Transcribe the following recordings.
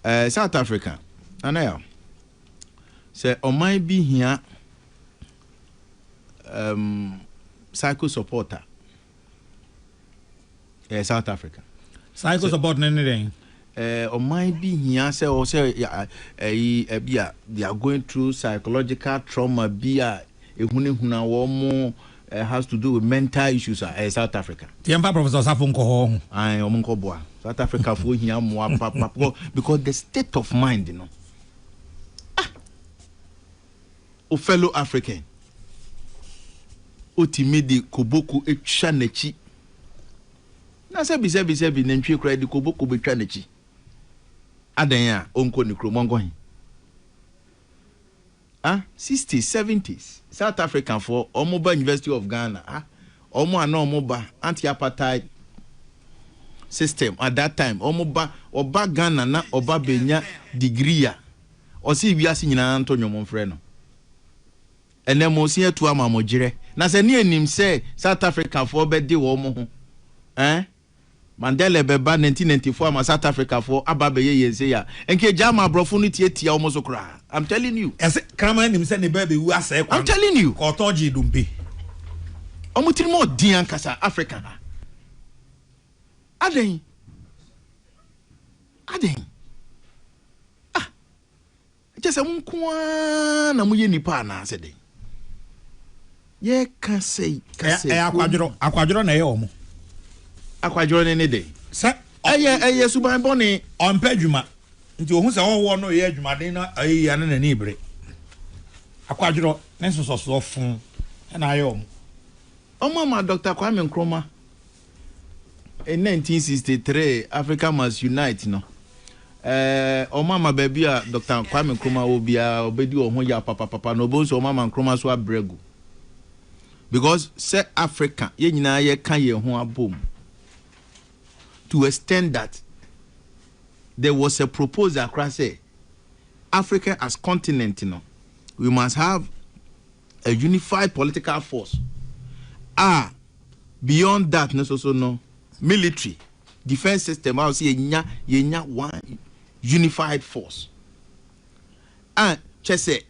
Ɛɛ South Africa, Nanayaw, sɛ ɔman bi hia um, psycho support a, ɛɛ South Africa. Psycho support ne ne dɛn? Ɛɛ ɔman bi hia sɛ ɔsɛ ɛyi ɛbi a they are going through psychological trauma bi a ehunahuna wɔn mo. Has to do with mental issues a ɛyɛ South Africa. Nti yɛmfa Professor Osafo nkɔ hɔ ɔho. Ae ɔmo nkɔ boa. South Africa foɔ hia mmoa papa because the state of mind no ah o fellow African otumi de koboko atwa n'akyi na sɛbi sɛbi sɛbi nantwie koraa de koboko betwa n'akyi adan a ɔnkɔ ne kurom ɔnkɔ he Ah sixties seventies south Africa foɔ ɔmo ba university of Ghana ah ɔmo a na ɔmo ba anti apartheid system at that time ɔmo ba ɔba Ghana na ɔba bɛ nya degree a ɔse wiase nyinaa nto nwom nfrɛ no ɛnɛ mo se atu ama mo gyerɛ na sɛ ne anim sɛ south Africa foɔ bɛ de ɔmo ho eh. Mandela bɛba nineteen ninety four ama south Africa foɔ aba abɛyɛ yɛn sei a nka egyaa ma abrɔfo no tiatia wɔn so koraa I'm telling you. Ɛse kraman nim sɛ ne ba bɛwu asɛe kwan. I'm telling you. Kɔɔtɔ gyee dompe. Wɔn tirim ɔden ankasa Africa ha adɛn adɛn ah. Ɛkyɛ sɛ mo nko ara na moyɛ nnipa anaa sɛ dɛn? Yɛka sɛ kasa Ɛyɛ akwadworɔ, akwadworɔ na ɛyɛ wɔn. Akwadworɔ no ne dɛn? Sɛ Ɛyɛ ɛyɛ suban bɔne. ɔmpɛ adwuma, nti ɔhu sɛ ɔhoɔ no reyɛ adwumaden na ɛyɛ yie a na n'ani rebere. Akwadworɔ ne nsosɔsoɔ fo na ayɛ wɔn. Wɔama Dɔkta Kwame Nkrumah. In nineteen sixty three Africa Must Unite no, eh, wɔn ama baabi a Dr. Kwame Nkrumah wɔ biara ɔbɛdi wɔn ho yaw papapapa na wɔbɛhu sɛ wɔn ama Nkrumah so abrɛ gu. Because sɛ Africa, yɛn nyinaa yɛka yɛn ho abom. To extend that, there was a proposal koraa sɛ Africa as continent no, we must have a unified political force a beyond that no soso no military defense system a ɔsɛ yɛnya yɛnya one unified force a kyɛ sɛ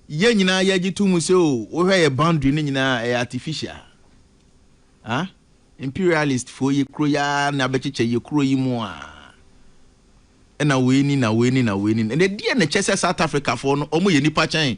yɛn nyinaa yɛgye to mu sɛ o oh, wohwɛ yɛ boundary no nyinaa ɛyɛ artificial ah imperialist foɔ yɛ kuro yɛ na abɛkyekyɛ yɛ kuro yi mu a ɛna wei ni na wei ni na wei ni na deɛ na kyɛ sɛ South Africa foɔ no wɔn yɛ nipa kyɛn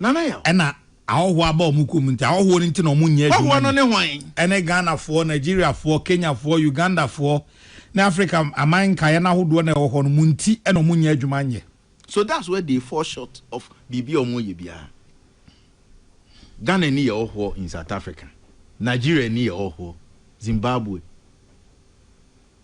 Ɛna ahɔhoɔ aba wɔn kuo mu nti ahɔhoɔ no nti na wɔn nyɛ adwuma ni. Ɛne Ghanafoɔ, Nigeriafoɔ, Kenyafoɔ, Ugandafoɔ ne Africa aman nkaeɛ no ahodoɔ na ɛwɔ hɔ no mo nti na wɔn nyɛ adwuma nyɛ. So that's where they fall short of biribi a wɔn yɛ biara. Ghana ni yɛ hɔhoɔ in South Africa, Nigeria ni yɛ hɔhoɔ, Zimbabwe.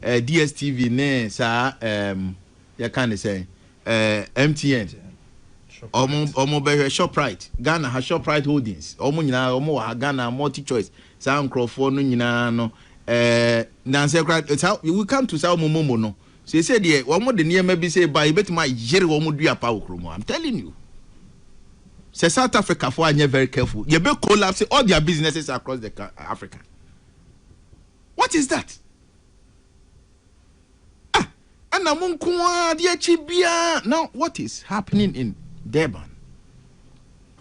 Eh, DSTV ne saa ehm yɛka ne sɛn eh MTN, ɔmo ɔmo bɛhwɛ Shoprite, Ghana ha Shoprite Holdings, ɔmo nyinaa ɔmo wɔ ha Ghana, Multi Choice, saa nkorɔfoɔ no nyinaa no eh nansɛ koraa saa we come to saa ɔmo momo no, seesei deɛ ɔmo de nneɛma bi sei ba a yɛbɛtumi ayere ɔmo dua paa wɔ kurom ha, I'm telling you. Sɛ South Africa foɔ anyɛ very careful, yɛbɛ collapse all their businesses across the Africa. What is that? Ah ɛna mo nko ara de akyi biara na what is happening in Durban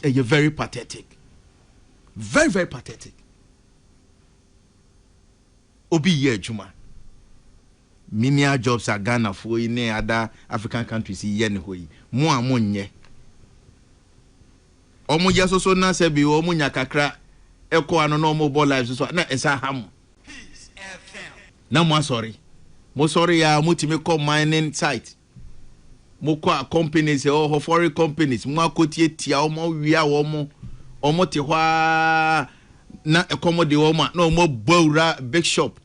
ɛyɛ very pathetic very very pathetic obi yɛ adwuma menial jobs a Ghanafoɔ yi ne ada African countries yi yɛ ne hɔ yi mo a mo nyɛ wɔn yɛ soso na sɛbi wɔn nya kakra ɛkɔ ano na wɔn bɔ live soso na ɛsa ha mo. Na mo asɔre, mo sɔre ya mo tumi kɔ mining site, mo kɔ a companies ɛwɔ hɔ foreign companies mo akɔ tie tia wɔn mo wia wɔn mo wɔn te hɔ a na ɛkɔm de wɔn a na wɔn abɔ awura big shop.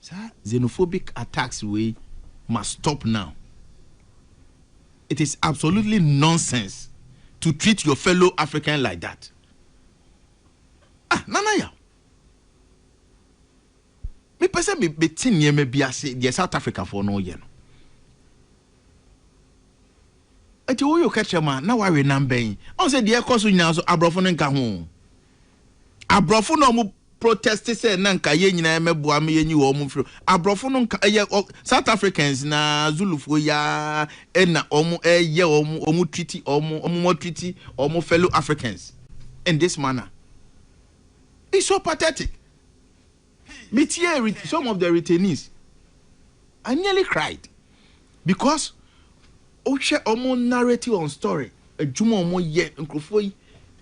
Saa xenophobic attacks wei must stop now. It is absolutely nonsense to treat your fellow African like that. Ah, Nana Yaw, mepɛ sɛ me, mete nneɛma bi ase, deɛ South Africafoɔ no yɛ no. Ɛti woyɛ ɔkɛkyerɛ mu a, na wawe nam bɛn? Ɔn sɛ deɛ ɛkɔ so nyinaa so, aborɔfo no nka ho. Aborɔfo na wɔn protest sɛ na nka yɛn nyinaa mɛboa me yɛnyi wɔn mfiri. Aborɔfo no nka, ɛyɛ South Africans na Zulufoɔ yi ara ɛna wɔn ɛyɛ wɔn, wɔn treaty wɔn, wɔn treaty wɔn fellow Africans. in this manner is so pathetic me tiee some of the retainees I nearly cried because wohwɛ ɔmo narrative on story adwuma ɔmo yɛ nkorɔfoɔ yi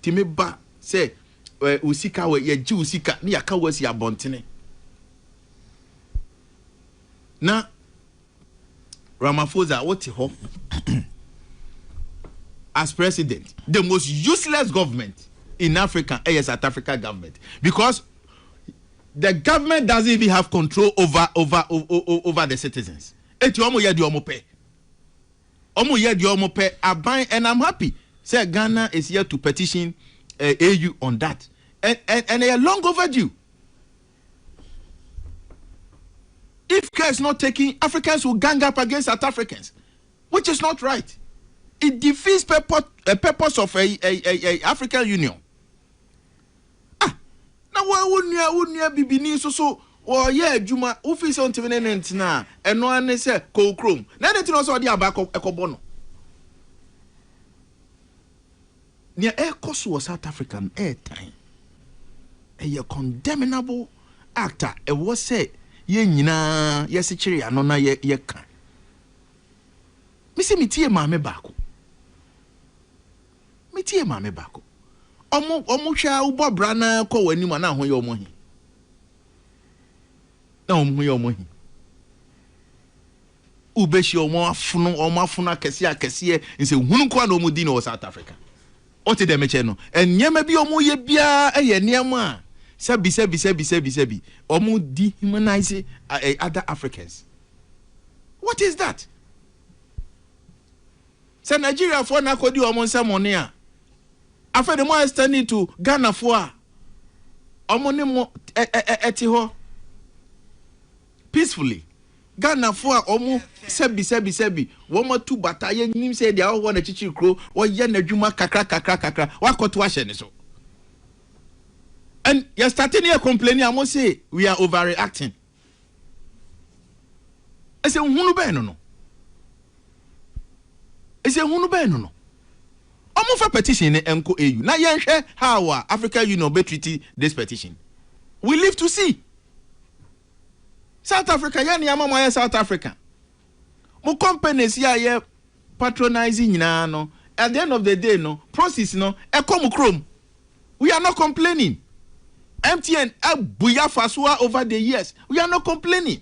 tumi ba sɛ eh, wo sika wɔ yɛgye wo sika ne yɛaka wo asi abɔntene na Ramaphosa wo te hɔ as president the most useless government in Africa ɛyɛ South Africa government because the government doesn't even have control over over over the citizens eti ɔmo yɛ deɛ ɔmo pɛ ɔmo yɛ deɛ ɔmo pɛ aban and I'm happy sɛ Ghana is here to petition uh, eh, AU on that and and and they are long overdue. If care is not taken, Africans will gang up against South Africans, which is not right. It defeats purpose, uh, purpose of a, a, a, a African Union. Ah, na wa wo nua wo nua bibini so so wɔyɛ adwuma wofi sɛ ntumi ne ne ntena a ɛno ane sɛ kɔɔ kurom na ɛne nti na ɔsɛ ɔde aba ɛkɔbɔ no Nea ɛrekɔ so wɔ South Africa no yɛ tan. Ɛyɛ condemnable act a ɛwɔ sɛ yɛn nyinaa yɛsekyere yɛn ano na yɛka. Mise metiee maame baako. Metiee maame baako. Wɔn wɔn hwɛ a wobɔ bra na kɔ wɔn anim a na ho yɛ wɔn he. Na wɔn ho yɛ wɔn he. Wobehyia wɔn afono, wɔn afono akɛseɛ akɛseɛ, nsɛnhunu nko ara na wɔdi no wɔ South Africa. Wote dɛm kyɛ no? Nneɛma bi a wɔyɛ biara yɛ nneɛma a sɛbi sɛbi sɛbi sɛbi sɛbi, wɔn dehumanise other Africans. What is that? Sɛ Nigeriafoɔ na akɔdi wɔn nsɛmɔne a, afei de mo extend it to Ghanafoɔ a wɔn ne mo te hɔ. peacefully Ghanafoɔ a wɔn sɛbi sɛbi sɛbi wɔn atu bata yɛ nim sɛ deɛ ɔwɔ na kyikyiri kuro ɔyɛ na adwuma kakra kakra kakra wakɔ to ahyɛ ne so and yɛ start ne yɛ complain a wɔn se we are overreacting ɛsɛ nhunu bɛn no no ɛsɛ nhunu bɛn no no. Wɔnfa petition no nkɔ AU na yɛnhwɛ how a African Union bɛ treat this petition. We live to see. South Africa yɛ nea ama moayɛ South Africa. Mo companies yi a yɛ patronise nyinaa no, at the end of the day no, proceeds no ɛkɔ mo kurom. We are not complaining. MTN abu yɛ afa so a over the years. We are not complaining.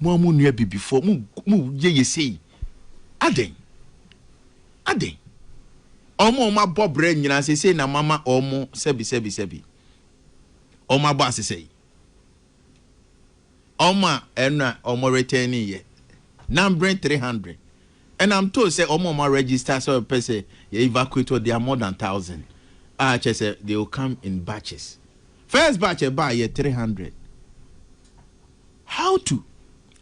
Mo a mo nua abibifoɔ, mo mo yɛ yɛ sei adɛn? Adɛn? Wɔn a wɔn abɔ brɛ nyinaa seesei na mo ama wɔn sɛbi sɛbi sɛbi. Wɔn abɔ asesɛe. Wɔn a ɛno a wɔn retɛn yɛ nambere three hundred. And I'm told sɛ wɔn a wɔn register sɛ wɔpɛ sɛ yɛ evacuate hɔ they are more than thousand. A kyerɛ sɛ they will come in batches. First batch ɛbaa yɛ three hundred. How to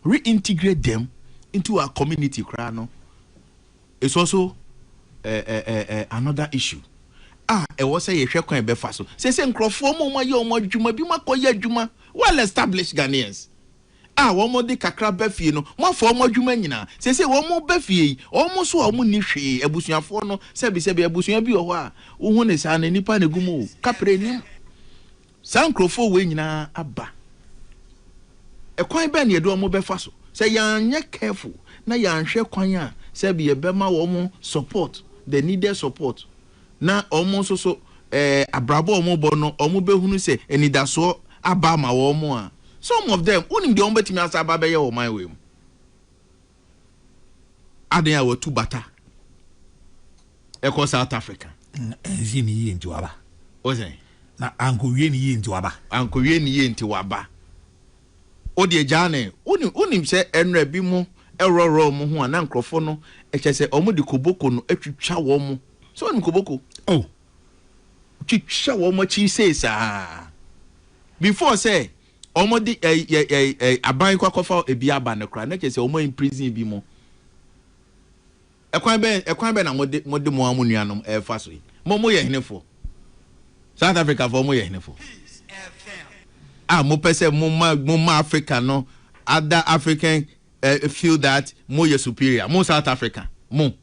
reintegrate them into our community koraa no is also another issue a ɛwɔ sɛ yɛhwɛ kwan a yɛbɛfa so. Seesei nkurɔfoɔ ma wɔayɛ wɔn adwuma, binom akɔyɛ adwuma, well established Ghanaians a wɔde kakra ba fie no, moafa wɔn adwuma nyinaa. Seesei wɔba fie yi, wɔn nso a wɔnni hwee, abusuafoɔ no, sɛbisɛbi abusua bi wɔ hɔ a, wohu no saa no, nnipa na ɛgu mu o, kaprɛ nnim. Saa nkurɔfoɔ wei nyinaa aba. Ɛkwan bɛn na yɛde wɔn bɛfa so? Sɛ yɛanyɛ careful na yɛanhwɛ kwan a sɛbi yɛbɛma wɔn support, the needed support, na wɔn nso so eh, abrabɔ a wɔbɔ no, wɔbɛhunu sɛ anidasoɔ aba ama wɔn a, some of them, wonim deɛ wɔbɛtumi asa aba abɛyɛ wɔ ɔman wei mu. Adan a wɔatu bata kɔ South Africa. Na ansi ne yie nti waba. Wose. Na ankowie ne yie nti waba. Ankowie ne yie nti waba. O deɛ gyaa ne wonim wonim sɛ ɛnrɛ bi mo ɛworɔworɔ mo ho a na nkurɔfoɔ no ɛkyɛ sɛ wɔn de koboko no atwitwa wɔn mo sɛ wɔnim koboko. Oh. Twitwa wɔn akyi sei saa before sɛ Ɔmo de ɛɛ yɛ ɛɛ ɛɛ aban kɔ akɔfa ebi aba no koraa na kyerɛ sɛ ɔmo a imprison ebi mo. Ɛkwan bɛn ɛkwan bɛn na mo de mo de mo ara mo nuanom ɛɛfa so yi? Mo mo yɛ hene foɔ? South Africa foɔ mo yɛ hene foɔ? Ah mo pɛ sɛ mo ma mo ma Africa no other African ɛɛ feel that mo yɛ superior mo South Africa mo.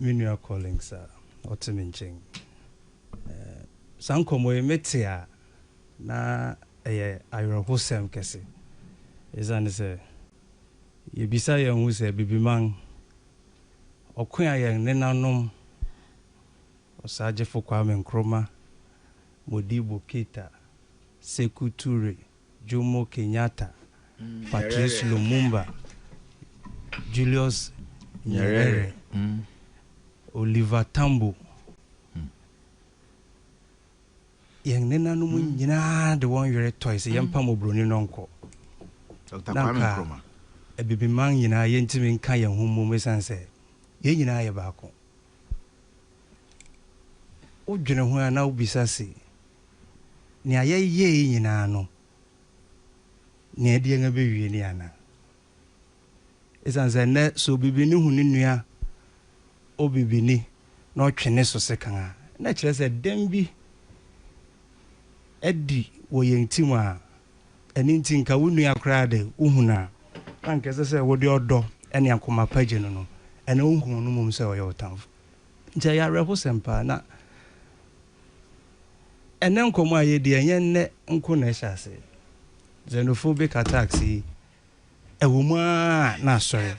me nua Collins a ɔte me nkyɛn. Saa nkɔmmɔ yi mete a, na ɛyɛ awerɛhosɛm kɛse. Esiane sɛ yebisa yɛn ho sɛ, Abibiman, ɔko a yɛn nenanom, Osagyefo Kwame Nkrumah, Modibo Keita, Sekou Toure, Jomo Kenyatta, Patrice Lumumba, Julius Nyerere, Oliver Tambo, yɛn nenanom nyinaa de wɔn yere tɔe sɛ yɛmpa mmɔborɔni no nkɔ. Na nka abibiman nyinaa yɛntumi nka yɛn ho mmom esiane sɛ yɛn nyinaa yɛ baako. Wodwene ho a na wobisa se, Nea yɛyɛe yi nyinaa no, nea ɛde yɛn abewie ni anaa? Esiane sɛ nnɛ sɛ obibini hu ne nua obibini na ɔtwe ne so sekan a, na ɛkyerɛ sɛ dɛm bi adi wɔ yɛn tirim a ɛno nti nka wo nua koraa de, wuhu no a, na anka ɛsɛ sɛ wode ɔdɔ ne akoma pa gye no no, ɛnna wunhu no mmom sɛ ɔyɛ wo tamfo. Nti ɛyɛ awerɛhosɛm paa. Na Ɛnnɛ nkɔmmɔ a yɛredi, ɛnyɛ nnɛ nko na ɛhyɛ ase. Xenophobic attacks yi, ɛwɔ mu ara a na asɔre.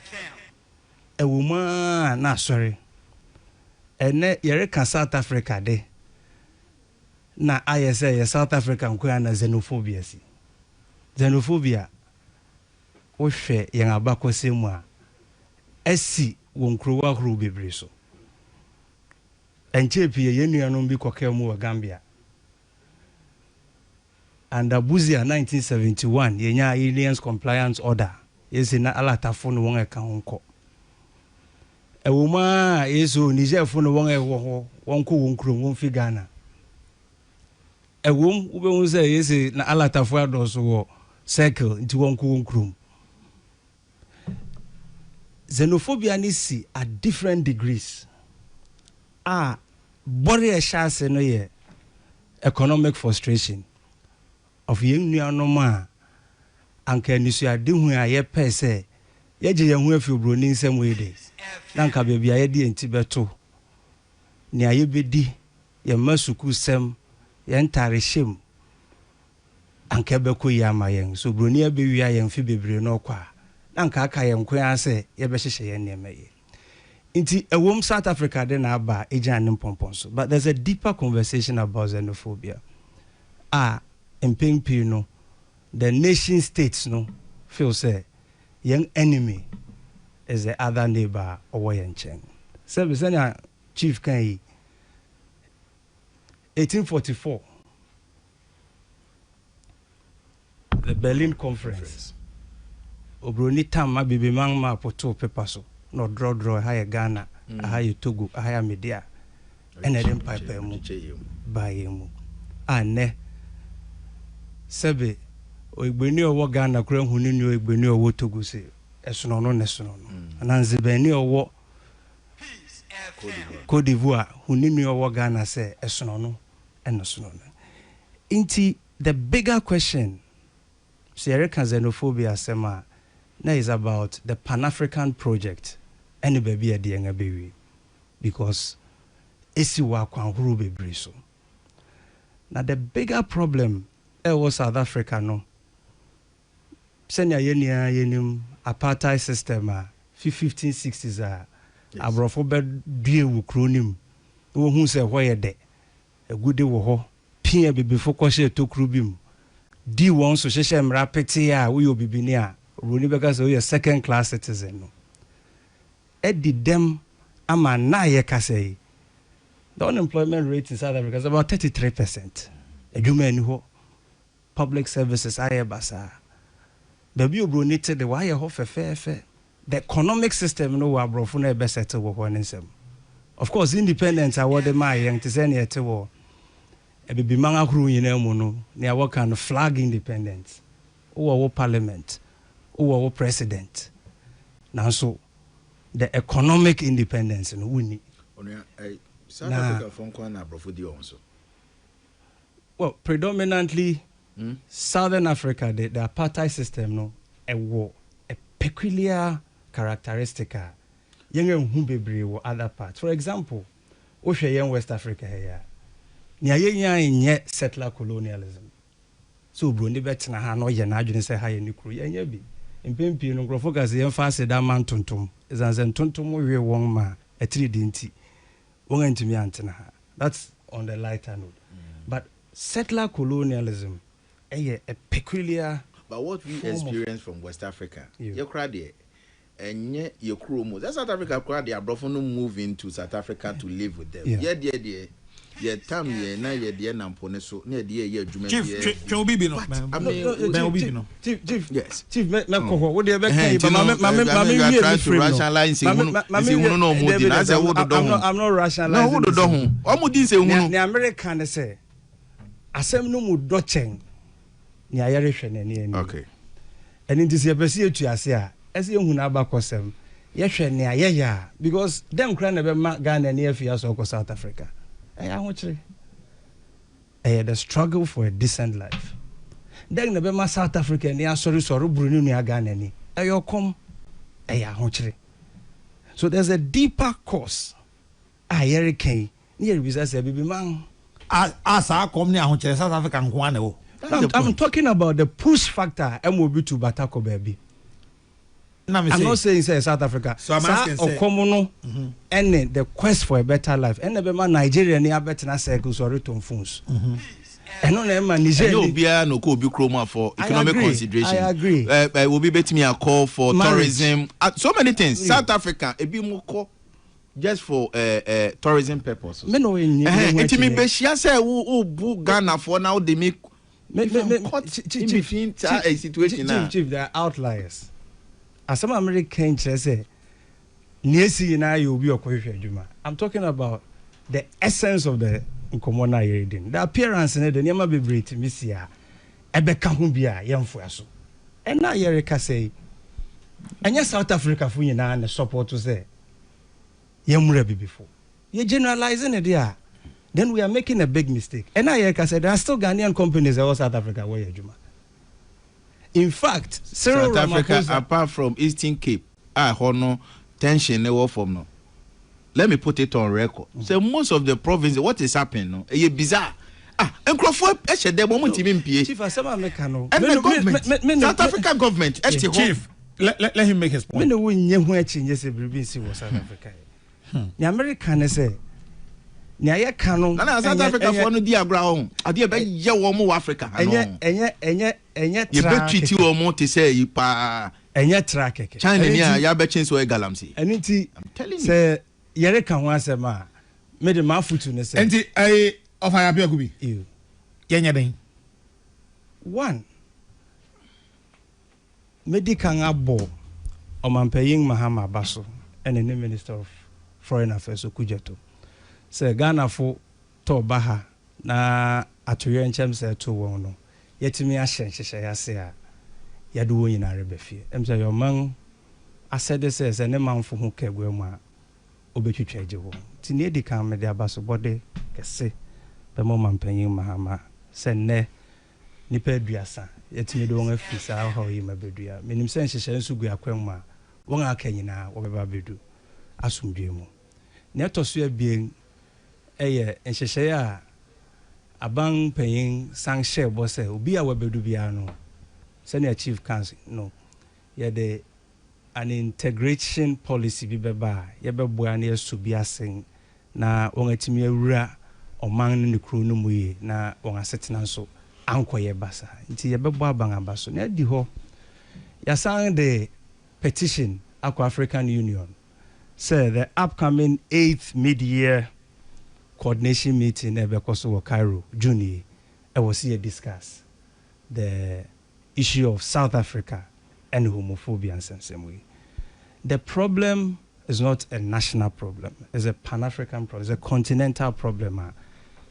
Ɛwɔ mu ara a na asɔre. Ɛnnɛ yɛreka South Africa de, na ayɛ sɛ ɛyɛ South Africa nko ara na xenophobia si. Xenophobia, wohwɛ yɛn abakɔsɛm mu a, asi wɔ nkurow ahorow bebree so. Ɛnkyɛe pii yɛn nuanom bi kɔkaa mu wɔ Gambia. Under Busia nineteen seventy one yɛnyaa Aliens Compliance Order, ese na Alatafo ne wɔn a ɛka ho nkɔ. Ɛwom ara a ese o Nigerfo ne wɔn a ɛwɔ hɔ wɔnkɔ wɔn kurom, wɔmfi Ghana. Ɛwom, wubehu sɛ ese na Alatafo adɔɔso wɔ Circle nti wɔnkɔ wɔn kurom. Xenophobia no si at different degrees a bɔre a ɛhyɛ ase no yɛ economic frustration of yɛn nuanom a anka anisoadehu a yɛpɛe sɛ yɛgye yɛn ho afi oburoni nsam yi de, na anka baabi a yɛde yɛn ti bɛto, nea yebedi, yɛn mma sukuusɛm, yɛn ntarehyɛ mu, Anka ɛbɛkɔ yie ama yɛn? Sɛ oburoni abɛwia yɛn mfe bebree na ɔkɔ a, na anka aka yɛn nko ara sɛ yɛbɛhyehyɛ yɛn nneɛma yie. Enti, ɛwom South Africa de na aba a, ɛgyina ne mpɔmpɔn so, but there's a deeper conversation about xenophobia a mpɛn pii no, the nation states no feel sɛ yɛn enemy is the other neighbour a ɔwɔ yɛn nkyɛn. Sɛbe, sɛnea Chief kae yi, 1844, The Berlin Conference, Obroni tam Abibiman maapo too pepa so na ɔdrɔdrɔɔ ɛha yɛ Ghana, aha yɛ Togo, aha yɛ Amedea ɛna ɛde mpaepaemu baa yɛn mu a nnɛ sɛbe Oegbeni a ɔwɔ Ghana koraa nhu ne nua Oegbeni a ɔwɔ Togo se ɛsono ɔno na ɛsono ɔno anaa Nzibani a ɔwɔ Cote d'Ivoire hu ne nua a ɔwɔ Ghana sɛ ɛsono ɔno. ɛno so no no nti the bigger question sɛ yɛreka xenophobia asɛm a na is about the pan African project ɛne baabi a ɛde yɛn abɛwie because ɛsi wɔ akwan horow bebree so na the bigger problem ɛwɔ South Africa no Sɛnea yɛn nyinaa yɛnim apartheid system a, fi 1560s a aborɔfo bɛduee wɔ kuro no mu na wɔhuu sɛ ɛhɔ yɛ dɛ, agude wɔ hɔ, pii abibifo kɔhyɛɛ tokuro bi mu dii wɔn so hyehyɛɛ mmara petee a woyɛ obibini a, oburoni bɛka sɛ woyɛ second class citizen no adi dɛm ama nna a yɛka sɛ yi, the unemployment rate in South Africa is about 33 percent, adwuma nni hɔ. Public services ayɛ basaa. Baabi a oburoni te de, wɔayɛ hɔ fɛfɛɛfɛ. The economic system no wɔ aborɔfo no a ɛbɛ settle wɔ hɔ no nsam. Of course, independence a wɔde maa yɛn te sɛ nea ɛte wɔ Abibiman ahorow nyinaa mu no, nea wɔka no flag independence. Wowɔ wo parliament, wowɔ wo president, nanso the economic independence no, wonni. Onua, ɛyɛ South Na Africa foɔ nko ara na aborɔfo di wɔn so. well predominantly mm. southern africa the, the apartheid system no ɛwɔ a peculiar characteristic a yɛn ahu bebree wɔ other parts for example wohwɛ yɛn west africa ha yi a nea yɛnyae nyɛ settler colonialism sɛ oburoni bɛtena ha na ɔyɛ n'adwene sɛ ha yɛ ne kuro yɛnyɛ bi mpɛn pii no nkurɔfoɔ ka sɛ yɛmfa aseda ma ntontom ɛsiane sɛ ntontom we wɔn ma atiri de nti wɔn antumi antena ha that's on the lighter note but settler colonialism ɛyɛ a peculiar But what we experience from West Africa, yɛ koraa deɛ, ɛnyɛ yɛ kuro mu. Sɛ South Africa koraa deɛ aborɔfo no move into South Africa to live with them. Yɛ deɛ deɛ, yɛ tam yɛn na yɛ deɛ nam po no so na yɛ deɛ yɛ adwuma biara bi. But I mean, chief chief yes chief mɛ mɛ kɔ hɔ wo deɛ bɛ kɛ yi ba ma mɛ ma mɛ ma mɛ wie mi firi no ma mɛ ma mɛ wie ɛdɛbi dɛbi i'm not i'm not rationalizing wo dodɔ ho ɔmo di nsɛ hunu ni amerika ne sɛ asɛm no mu dɔ kyɛn ni ayɛre hwɛ na ɛni ɛni okay ɛni ti sɛ yɛpɛ si etu ase a ɛsɛ yɛ hunu abakɔsɛm yɛhwɛ ni ayɛyɛ a because dɛm kura na ɛbɛ ma ghana ni ɛfi asɔ kɔ south africa ɛyɛ ahokyere. Ɛyɛ The Struggle for a Decent Life. Dɛn na ɛbɛma South Africa ani asɔre so ɔreboro ne nua Ghana ani? Ɛyɛ ɔkɔm? Ɛyɛ ahokyere? So there's a deeper cause a yɛreka yi na yɛrebisa sɛ, Bibiman? A a saa kɔm ne ahokyere South Africa nko ara na ɛwɔ? I'm talking about the push factor a ɛma obi tu bata kɔ baabi. I'm not saying sɛ South Africa saa ɔkɔm no ɛne mhm. the quest for a better life ɛna ɛbɛma Nigeria ni abɛtena circle so ɔretɔn phones mhm. ɛno na ɛma Niger ni ɛnyɛ obiara na ɔkɔ obi kurom a for economic consideration I agree ɛɛ eh, eh, obi bɛtumi akɔ for tourism ah, so many things South Africa ebi mu kɔ just for uh, uh, tourism purpose. mi na o ye nye. nti mi bɛ hyia sɛ o bu ghana fɔ na o de mi. me me me caught chief in between saa a situation a. chief chief they are outliers asɛm a mede ka nkyerɛ sɛ nea esi nyinaa yɛ obi ɔkɔhwehwɛ adwuma i'm talking about the essence of the nkɔmɔ na yɛredi no the appearance ne de nneɛma bebree tumi si a ɛbɛka ho bi a yɛmfoa so ɛna yɛrekasa yi ɛnyɛ south africa fo nyinaa ne support sɛ yɛn mmra abibifo. Yɛ generalize no de a, then we are making a big mistake. Ɛna yɛreka sɛ there are still Ghanaian companies ɛwɔ South Africa wɔyɛ adwuma. In fact, Cyril South Africa Ramaphosa. apart from Eastern Cape a ɛhɔ no tension no wɔ fam no, let me put it on record sɛ most of the provinces what is happening no ɛyɛ bizarre. Ah nkurɔfoɔ hyɛ dɛm wɔn ntumi mpie Chief asɛm a meka no me ɛnna ne me government me me South ne Africa government ɛte hɔ Chief, let, let, let him make his me point. ne wo nyɛ ho akyinnye sɛ biribi nsi wɔ South Africa ɛ. Nea mereka ne sɛ nea yɛka no Nana South ɛnyɛ Africa ɛnyɛ foɔ no di agorɔ a ɔho adeɛ ɛ- ɛbɛyɛ wɔn wɔ Africa ha no ɛnyɛ ɛnyɛ ɛnyɛ ɛnyɛ tra yɛbɛtwiti kɛkɛ wɔn te sɛ yi paa ɛnyɛ tra kɛkɛ China ɛno ni a nti yɛabɛkye nso yɛ galamsey ɛno nti I'm telling you sɛ Yɛreka ho asɛm a, me de m'afotu ne sɛ. Nti ɛyi ɔfa yɛ apeaku bi. Ew. Yɛ nyɛ dɛn? One, me di kan abɔ Ɔmanpanyin Mahama aba so ɛne ne Minister of Foreign Affairs Okudzeto sɛ Ghanafo tɔ baha na atoyerɛnkyɛm sɛɛ to wɔn no, yɛatumi ahyɛ nhyehyɛe ase a yɛde wɔn nyinaa reba fie. Ɛmsɛ ɛyɛ ɔman asɛde sɛ, sɛ ne manfo ho ka aguamu a, obetwitwa agye wɔn. Nti nea edi kan, mede abasobɔde kɛse bɛma ɔmampanyin Mahama sɛ nnɛ nnipa aduasa, yɛatumi de wɔn afi saa ɔhaw yi mu abedu a minim sɛ nhyehyɛe nso gu akwan mu a wɔn a aka nyinaa wɔbɛba abedu asomdwoe mu. Nea ɛtɔ so abien, yɛ nhyehyɛe a aban panyin san hyɛɛ bɔ sɛ obi a wabedu biara no, sɛnea Chief ka no, yɛde an integration policy bi bɛba a yɛbɛboa na yɛasɔ bi ase na wɔatumi awura ɔman ne ne kurow no mu yiye na wɔn asetena nso ankɔyɛ basaa. Nti yɛbɛbɔ aban aba so na adi hɔ. Yɛasan de petition akɔ African Union. sɛ the upcoming eighth mid-year coordination meeting a ɛbɛkɔ so wɔ Cairo June yi, ɛwɔ sɛ yɛ discuss the issue of South Africa and homophobia nsɛmnsɛm yi. The problem is not a national problem, it's a pan-African problem, it's a continental problem a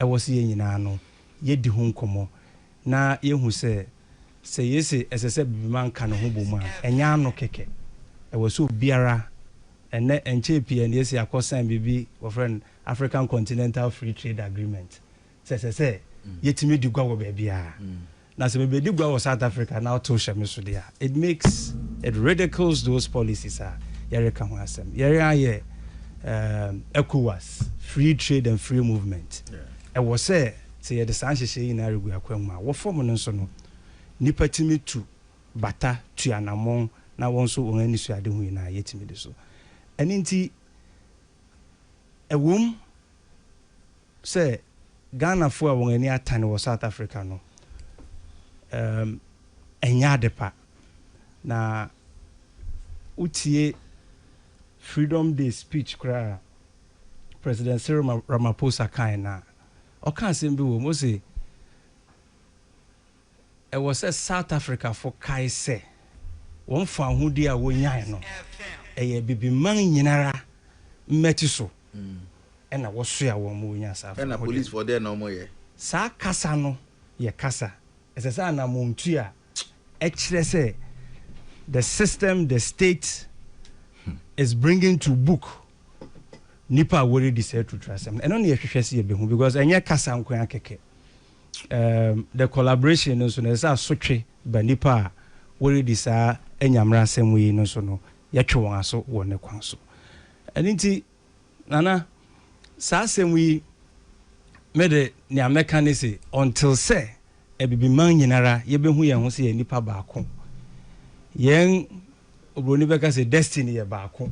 ɛwɔ sɛ yɛn nyinaa no yɛdi ho nkɔmmɔ na yɛhu sɛ Sɛ yese ɛsɛ sɛ Bibiman ka ne ho bom a, ɛnyɛ ano kɛkɛ. Ɛwɔ sɛ obiara, ɛnnɛ ɛnkyɛɛ pii a na yɛasi akɔ sign biribi wɔfrɛ no African Continental Free Trade Agreement, sɛ ɛsɛ sɛ yɛtumi di gua wɔ baabiara. Na sɛ mebɛdi gua wɔ South Africa na ɔtow hyɛ me so deɛ a, it makes, it ridicules those policies a yɛreka ho asɛm. Yɛn ara yɛ um, ECOWAS, Free Trade and Free Movement. Ɛwɔ sɛ. Sɛ yɛde saa nhyehyɛe yi nyinaa regu akwan mu a, wɔ fam no nso no, nnipa tumi tu bata, tu anammɔn, na wɔn nso wɔn anisoadehu nyinaa yɛtumi di so. Ɛno nti, ɛwom sɛ Ghanafo a wɔn ani atane wɔ South Africa no, ɛɛm, ɛnyɛ adepa, na wotie Freedom Day speech koraa a President Cyril Ramaphosa kae no a, Ɔka asɛm bi wom, ose ɛwɔ sɛ South Africafo kae sɛ wɔn fawohodie a wɔnyae no, ɛyɛ Abibiman nyinara mmati so na wɔsoaa wɔn ma wɔnyaa saa fawohodie no. Saa kasa no yɛ kasa a ɛsɛ sɛ anamɔntu a ɛkyerɛ sɛ the system the state is bringing to book nipa a wɔredi sɛ atuturasɛm ɛno ne yɛhwehwɛ sɛ yɛbɛhu because ɛnyɛ kasa nko ara kɛkɛ um, the collaboration no nso na ɛsɛ asotwe ba nipa a wɔredi saa anyamera asɛm yi no nso no yɛtwe wɔn aso wɔ ne kwan so ɛno nti Nana, saa asɛm yi, me de, nea mɛka ne se, until sɛ Abibiman nyinara yɛbɛhu yɛn ho sɛ yɛyɛ nnipa baako, yɛn, Oburoni bɛka sɛ destiny yɛ baako,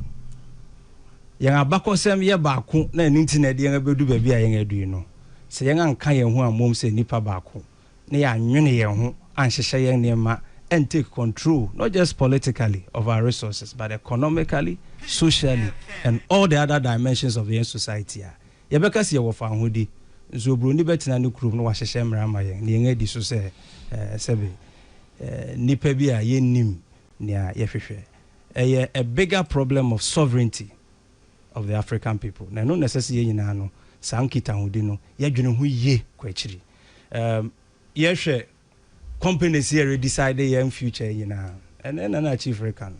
yɛn abakɔsɛm yɛ baako na ɛno nti na ɛde yɛn abɛdu baabi a yɛn adu yi no, sɛ yɛn anka yɛn ho ammom sɛ nnipa baako, na yɛannwene yɛn ho anhyehyɛ yɛn nneɛma and take control not just politically of our resources but economically, socially and all the other dimensions of yɛn society a, yɛbɛka sɛ yɛwɔ fawohodi. Nso oburoni bɛtena ne kurom na wahyehyɛ mmara ama yɛn na yɛn adi so sɛ sɛbe nnipa bi a yɛnnim nea yɛhwehwɛ. Ɛyɛ a bigger problem of sovereignty of the African people na ɛno na ɛsɛ sɛ yɛn nyinaa no saa nkitahodi no yɛdwene ho yie kɔ akyiri. Erm yɛhwɛ companies yɛ re decide yɛn future nyinaa ɛnɛ na na chief reka no.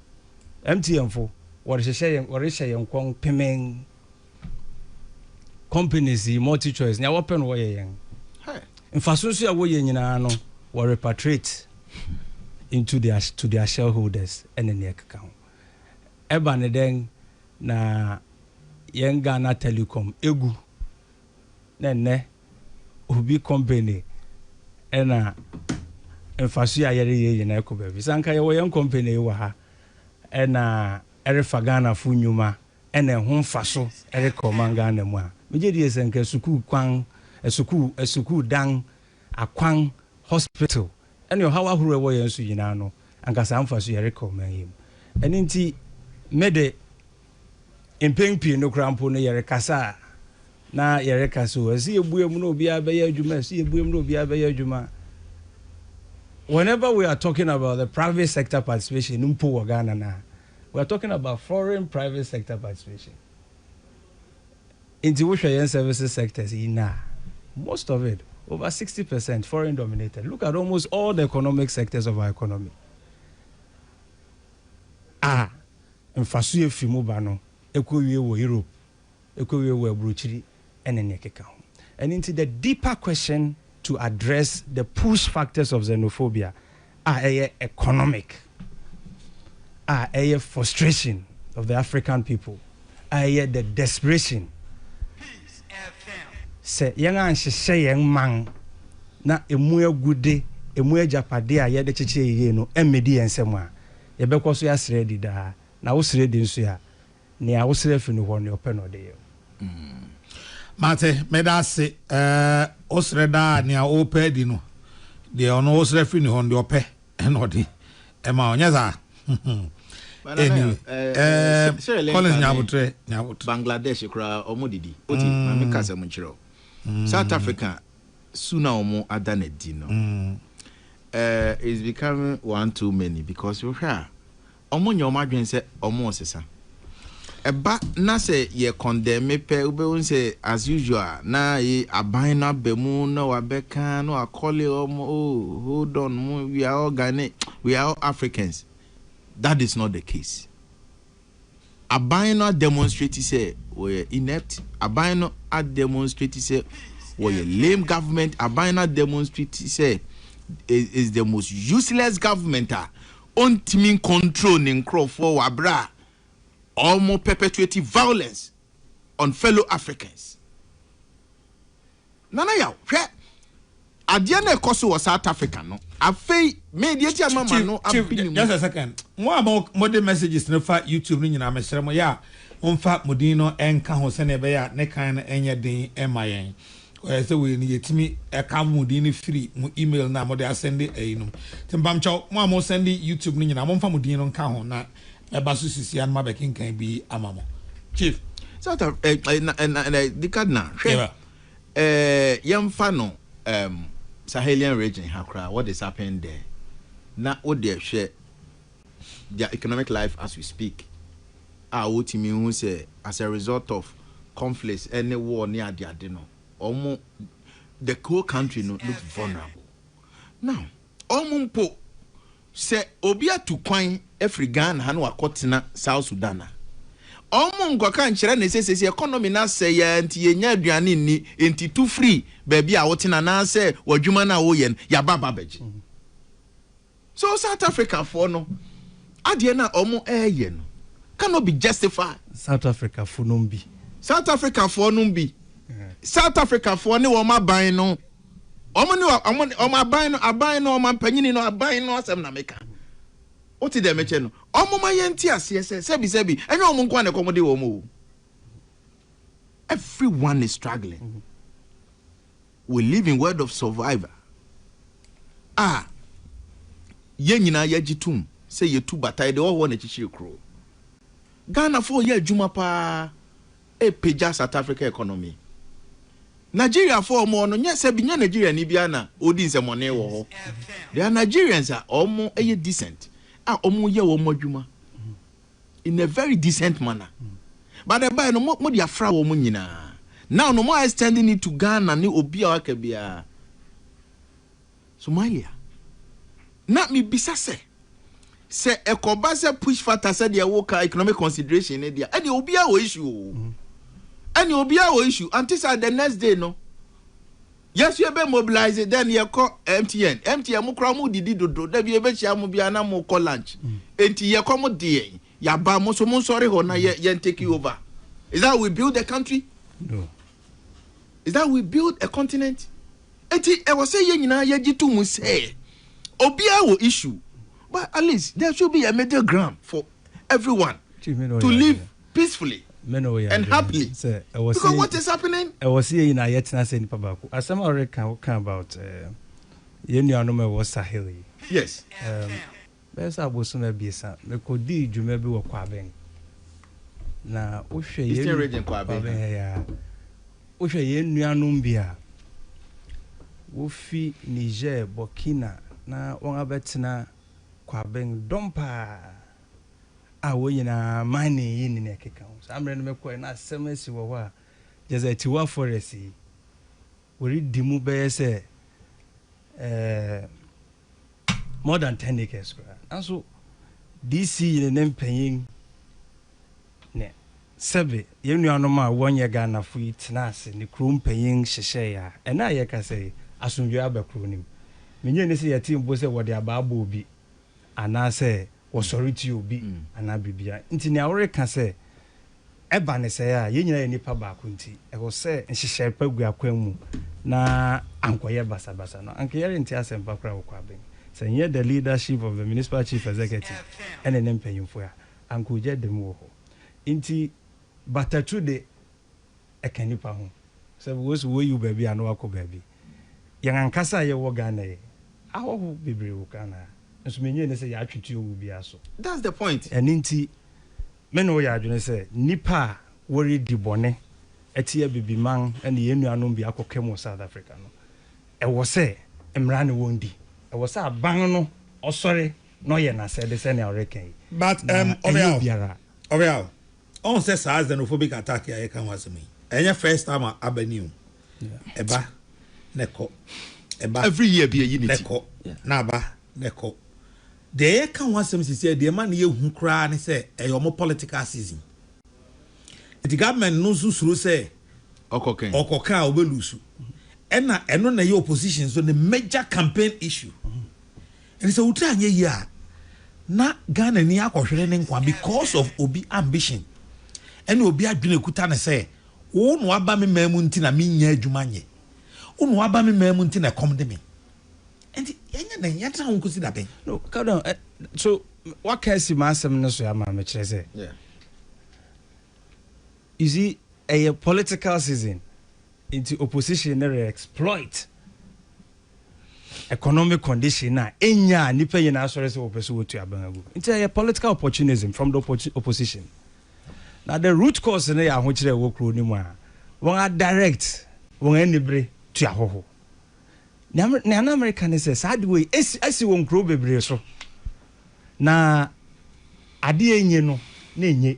MTN fo wɔrehyehyɛ yɛn wɔrehyɛ yɛn kɔn pemɛn. Companies yi multi choice nea wɔpɛ no wɔyɛ yɛn. Mfaso nso a wɔyɛ nyinaa no wɔ repatriate into their to their shareholders ɛne nea ɛkeka ho. Ɛba ne dɛn na yɛn Ghana telecom egu na nnɛ obi company na mfaso yi a yɛreyɛ nyinaa kɔ baabi. Sɛ anka yɛwɔ yɛn company yi wɔ ha na ɛrefa Ghanafo nnwuma na ɛho mfaso rekɔ man Ghana mu a, megye die sɛ anka sukuu kwan, sukuu, sukuu dan, akwan, hospital, ne ɔhaw ahorow ɛwɔ yɛn so nyinaa no, anka saa mfaso yɛrekɔ man yi mu. Ɛno nti, me de, Mpɛn pii no koraa mpo no, yɛrekasa a, na yɛreka sɛ, ɛsɛ yɛbue mu na obiara bɛyɛ adwuma, ɛsɛ yɛbue mu na obiara bɛyɛ adwuma. Whenever we are talking about the private sector participation mpo wɔ Ghana no a, we are talking about foreign private sector participation. Nti wohwɛ yɛn services sectors yi na most of it over 60 percent foreign dominated. Look at almost all the economic sectors of our economy. Ah. mfaso a efi mu ba no kowie wɔ Europe, ekowie wɔ aburokyiri ne nea ɛkeka ho. Ɛno nti, the deeper question to address the push factors of xenophobia a ɛyɛ economic, a ɛyɛ frustration of the African people, a ɛyɛ the desperation sɛ yɛn anhyehyɛ yɛn man na emu agude, emu agyapade a yɛde kyekyɛ yiye no mmedi yɛn nsam a, Yɛbɛkɔ so asrɛ adi daa. Na wosrɛ adi nso a, nea wosrɛ fi no hɔ no, ɔpɛ na ɔde yɛ wo. Mate, meda ase. Wosrɛ daa a, nea worepɛ adi no, deɛ ɔno wosrɛ fi ne hɔ no, deɛ ɔpɛ na ɔde ma wo. Nyɛ saa? Anyway, Collins nya aboterɛ, nya aboterɛ. Bangladesh koraa, wɔdidi. Wote? Ma menka asɛm nkyerɛ wo. South Africa, su na wɔn ada no adi no eh is becoming one too many because wo hwɛ a wɔn nyɛ wɔn adwene sɛ wɔn resesa ɛba na sɛ yɛ condemn pɛ wo bɛ hu sɛ as usual na yi aban na bɛ mu na wa bɛ ka na wa kɔle wɔn oh hold on we are all Ghana we are all Africans that is not the case Aban no ademonstrate sɛ wɔyɛ inept, aban no ademonstrate sɛ wɔyɛ lame government, aban no ademonstrate sɛ is the most useless government a ɔntumi ncontrol ne nkurɔfoɔ wɔ aberɛ a wɔn perpetuate violence on fellow Africans. Nana yaw, hwɛ adeɛ na ɛkɔ so wɔ South Africa no afei. Me deɛ ti a ma ma no abe ne mu. Just a second, mo a mo de messages no fa YouTube no nyinaa me srɛ mo yɛ a mo nfa mo din no nka ho sɛdeɛ ɛbɛyɛ a ne kan no nyɛ den ma yɛn. Ɔyɛ sɛ wei no yɛtumi ɛka mo din no firi mo email no a mo de asɛnde ɛyi no. Nti mpamkyɛw mo a mo sɛnde YouTube no nyinaa mo nfa mo din no nka ho na Ɛba so sisi a no ma bɛkenkan bi ama mo. Chief. South Af eh, eh, na, eh, na, na, di Kaduna, hwɛ, yeah. eh, yɛmfa no um, Sahelian region ha koraa, what is happening there? Na wo deɛ hwɛ their economic life as we speak, a wotumi hu sɛ as a result of conflicts ɛne war ne adeade no, ɔmo, the whole country no looked vulnerable. Now, Wɔn mpo, sɛ obi atu kwan afiri Ghana ha na wakɔtena South Sudan a, wɔn nkɔka nkyerɛ no sɛ seesei economy no asɛe ara nti yɛnnya aduane nni, enti tu firi baabi a wote no anaasɛ w'adwuma no a woyɛ no, yɛaba aba abɛgye. So South Africafoɔ no adeɛ no a wɔreyɛ no cannot be justified. South Africafoɔ nom bi. South Africafoɔ nom bi. South Africafoɔ ne wɔn aban no. Wɔn ne wɔn, wɔn ne wɔn aban no, aban no, wɔn mpanyini no, aban no asɛm na meka. Wote deɛ mekyɛ no? Wɔmma yɛnte aseɛ sɛ, sɛbisɛbi, ɛnyɛ wɔn nko ara na ɛkɔm de wɔn o. Everyone is struggling. We live in world of survivor a yɛn nyinaa yɛgye tom sɛ yɛtu bata, yɛde ɔhɔ na akyikyiri kuro. Ghanafoɔ yɛ adwuma paa. ɛpagya South Africa economy. Nigeriafoɔ a wɔwɔ no nyɛ sɛ bi nyɛ Nigeriani biara na ɔredi nsɛmɔne wɔ hɔ. There are Nigerians a wɔyɛ decent a wɔyɛ wɔn adwuma in a very decent manner. But ɛbaeɛ no mo mode afra wɔn nyinaa. Now no mo are extending it to Ghana ne obi a waka biara. Somalia. Na mebisa sɛ, sɛ ɛkɔba sɛ push factor sɛdeɛ woka economic consideration ne deɛ, ɛdeɛ obiara wɔ issue o. Ɛne obiara wɔ issue. Ante saa the next day no, yɛso yɛbɛ mobilize, then yɛkɔ MTN. MTN mo koraa mo didi dodo, da bi yɛbɛhyia mo biara na mo kɔ lunch. Enti yɛkɔ mo deɛ, yɛaba mo so mo nsɔre hɔ na yɛn take over. Is that we build the country? No. is that we build a continent eti ɛwɔ sɛ yɛn nyinaa yɛgye to mu sɛ obiara wɔ issue but at least there should be a middle ground for everyone to live peacefully and happily because what is happening. ɛwɔ sɛ yɛn nyinaa yɛtena sɛ nipa baako asɛm a ɔreka woka about eh, yɛn nuanom a ɛwɔ sahel yi yes um, Bɛyɛ sɛ abosoom abiɛsa, mekodii dwuma bi wɔ Kwabeng. Na wohwɛ yɛn Eastern Region Kwabeng ha. Kwabeng ha yi a, wohwɛ yɛn nuanom bi a, wofi Niger, Burkina na wɔabɛtena Kwabeng, dɔm pa ara a wɔn nyinaa mining yi ne nea ɛkeka ho. Saa mmerɛ no mekɔɛ na asɛm asi wɔ hɔ a, kyerɛ sɛ Tiwa Forest yi, wɔredi mu bɛyɛ sɛ ɛɛ more than ten acres koraa nanso DC ne ne mpanyin ne sɛbe yɛn nuanom a wɔnyɛ Ghanafo yi tenaa ase ne kurow mpanyin hyehyɛe a ɛnnɛ a yɛkasa yi asomdwoe aba kurow no mu. Minnye nni sɛ yɛtee mpo sɛ wɔde abaa bɔɔ obi anaasɛ wɔsɔre tia obi anaa biribiara. Enti nea woreka sɛ ɛba no sɛɛ a, yɛn nyinaa yɛ nnipa baako nti, ɛwɔ sɛ nhyehyɛe pa gu akwan mu na ankɔyɛ basabasa no, anka yɛrente asɛmpa koraa wɔ Kwabeng. Sɛ ɛnyɛ the leadership of the Municipal Chief Executive ne ne mpanyimfo a, anka ogya da mu wɔ hɔ. Enti Batatwu de, ɛka nnipa ho. Sɛ wo so woyi wo baabi a na woakɔ baabi. Yɛn ankasa a yɛwɔ Ghana yi, ahɔho bebree wɔ Ghana ha, nso mennye nni sɛ yɛatwe tuo wɔ obiara so. That's the point. Ɛno nti, me ne wo yɛ adwene sɛ nnipa a wɔredi bɔne atia Bibiman ne yɛn nuanom bi akɔka mu wɔ South Africa no, ɛwɔ sɛ mmara ne wɔn di. Ɛwɔ sɛ aban no ɔsɔre na ɔyɛ n'asɛde sɛnea ɔreka yi, na ɛnyɛ obiara. Ɔwɛaw, Ɔn sɛ saa xenophobic attack a yɛka ho asɛm yi, ɛnyɛ first time a aba ni o. Ɛba na ɛkɔ. Ɛba Every year bi ayi ne na ti. ɛkɔ. Na aba na ɛkɔ. Deɛ yɛka ho asɛm sisɛ, deɛ ɛma no yɛ hu koraa ne sɛ ɛyɛ wɔn political season. Nti government no nso suro sɛ Ɔkɔ kɛn. ɔkɔ ka a ɔbɛ lose. Ɛna ɛno na ɛyɛ opposition nso ne major campaign issue. Enti sɛ wo tiri anyɛ yie a, na Ghanani akɔhwere ne nkwa because of obi ambition ɛne obi adwene a ɛkuta no sɛ wo na woaba me man mu nti na mennya adwuma nyɛ, wo na woaba me man mu nti na ɛkɔm de me. Enti yɛnyɛ dɛn? Yɛntena ho nkɔsi da bɛn? No, calm down. Eh, so waka asi m'asɛm no so ama me kyerɛ sɛ. Yeah. You see, ɛyɛ political season. Nti opposition ne re-exploit economic condition a enya a nnipa nyinaa asɔre sɛ wɔpɛ sɛ wɔtu abɛn agu. Nti ɛyɛ political opportunism from the opposition. Na the root cause no yɛ ahokyerɛ a ɛwɔ kuro no mu a wɔn a direct wɔn anibere tu ahɔho. Nea na Amerika ne sɛ saa ade wei asi wɔn kuro bebree so na ade enye no na enye.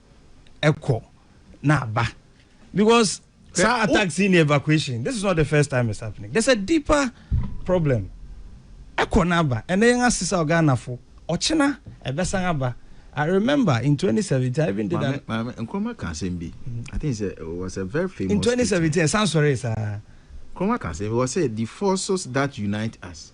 ɛkɔ na aba because saa attacks yi ne evacuation this is not the first time it's happening there's a deeper problem ɛkɔ na aba ɛnna yɛn asesa ɔganafo ɔkyena ɛbɛsan aba I remember in 2017 I even did that. Maame Nkrumah ka asɛm bi. I think it was a very famous. In 2017, ɛsan sɔre saa. Nkrumah ka asɛm bi wɔ sɛ the forces that unite us.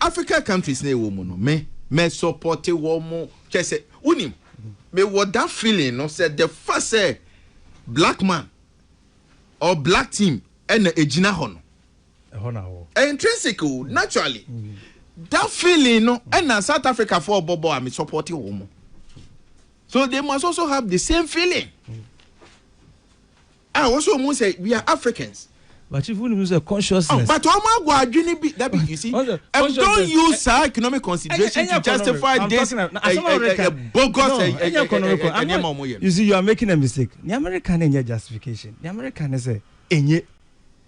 Africa countries na yɛwɔ mu no me mɛ sɔpɔte wɔ mo kyɛsɛ wonim me wɔ da feeling no sɛ the fa sɛ black man or black team ɛna ɛgyina hɔ no ɛhɔ na wɔ intrinsic o naturally da feeling no ɛna South Africa fɔ ɔbɔbɔ a me sɔpɔte wɔ mo so they must also have the same feeling. Ah wɔn so wɔn hu sɛ we are Africans. But chief wonim nso sɛ consciousness. But wɔn agɔ adwene bi dabi you see um don't use saa economic consideration to justify this eh, eh, eh, bogus no, eh, eh, nneɛma wɔn yɛ. You see you are making a mistake. Ní America ni nyɛ justification. Ní America ni sɛ enye.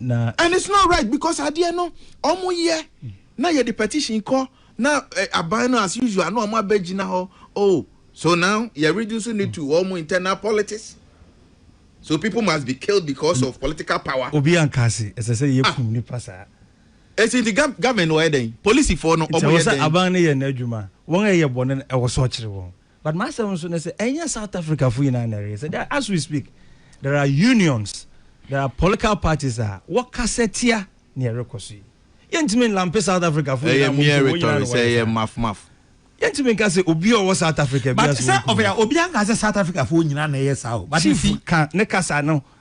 na. And it's not right because adeɛ no ɔmo yɛ na yɛde petition kɔ na eh, aban no as usual na ɔmo abɛgyina hɔ oh so now yɛ reduce ne to ɔmo internal politics so people must be killed because of political power. obi anka ase ɛsɛ sɛ yɛ kum nipa saa. esi nti gam gamen wɔ yɛ dɛn polisifoɔ no nti ɔmo ɛwɔ yɛ sɛ dɛn. aban no yɛ n'adwuma wɔn a ɛyɛ bɔne no ɛwɔ sɛ ɔkyere wɔn But m'asɛm nso ne sɛ ɛnyɛ South Africa fo nyinaa na ɛreyɛ sɛ there as we speak there are unions there are political parties a wɔkasa tia nea ɛrekɔ so yi yɛntumi nlampe South Africa fo nyinaa mmom sɛ wɔn nyinaa na wɔyɛ saa yɛntumi nka sɛ obi a ɔwɔ South Africa biara sɛ wɔn kɔ mu. Obi anka sɛ South Africa fo nyinaa na ɛyɛ saa o. Chief ka ne kasa no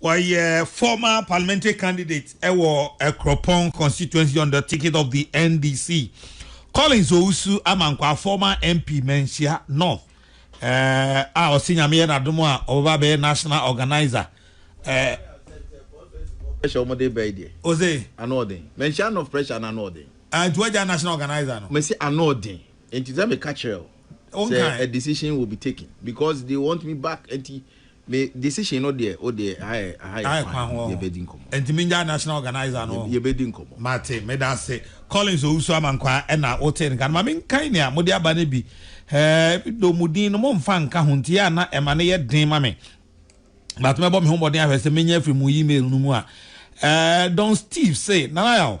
Ɔyɛ former parliamentary candidate wɔ Akuropong constituency on the ticket of the NDC. Collins Owusu Amankwah, former MP Manhyia North, eh, a ɔsi nyame yɛ n'adom a ɔbɛba bɛyɛ national organizer. Eh, pressure wɔn de bɛyi deɛ. Ose. Ano ɔden. Manhyia North pressure na ano ɔden. Ah, nti wagya national organizer no. Mesi ano ɔden. Nti sɛ meka kyerɛ o. Sɛ a decision will be taken because they want me back nti Me decision no deɛ wo deɛ ha yɛ aha yɛ kwan ho yɛ bɛ di nkɔmɔ. Ɛnti me ngyae national organizer no. Yɛ bɛ di nkɔmɔ. Mate, meda ase. Collins Owusu Amankwaa ɛna wo tee nka no. Ma me nkan nea mo de aba no bi. Ɛɛ, though mo din no mo nfa nka ho nti yɛ a na ɛma no yɛ den ma me. But mɛbɔ me ho mmɔden ahwɛ sɛ menya afiri mo email no mu a. Ɛɛ, Don Steve se, Nana Yaw.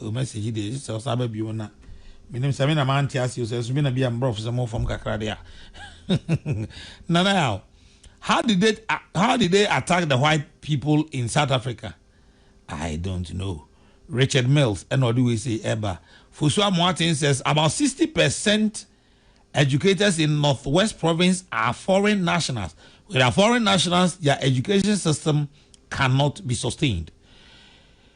Oh message yi deɛ ɛsɛ sɛ ɔsan ba bio na menim sɛ me na mante ase o sɛ nso me na bi a mbrɔfo sɛ mo fam kakra de a nana ya o how did they how did they attack the white people in South Africa I don't know Richard Mills ɛna ɔde wei sei ɛba Fosuo Amoaten says about 60 percent educators in Northwest province are foreign nationals. With our foreign nationals, their education system cannot be sustained.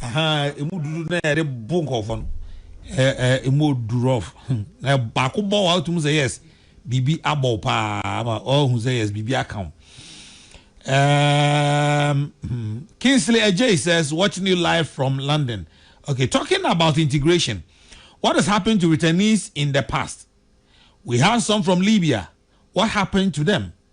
Ahaa emu dudu na yɛde bo nkɔfɔ no ɛɛ emu odu rough hmm. na baako bɔ wa otum sɛ yes biribi abɔ paa ama ɔhu sɛ yes biribi aka ho. Um, hmm. Kingsley Ajay says watching you live from London. Okay, talking about integration. What has happened to returnees in the past? We had some from Libya. What happened to them?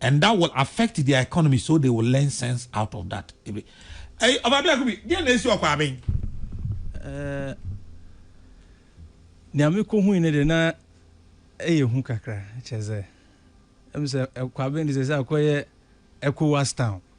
and that will affect their economy so they will learn sense out of that. Ebe. Hey, ọba bi akubi, deɛ na esi ọkọ aben. Eh, nea mi ko hui ne de na ɛyɛ hu kakra kyɛ sɛ ɛmu sɛ ɛkɔ aben de sɛ sɛ akɔyɛ ECOWAS town.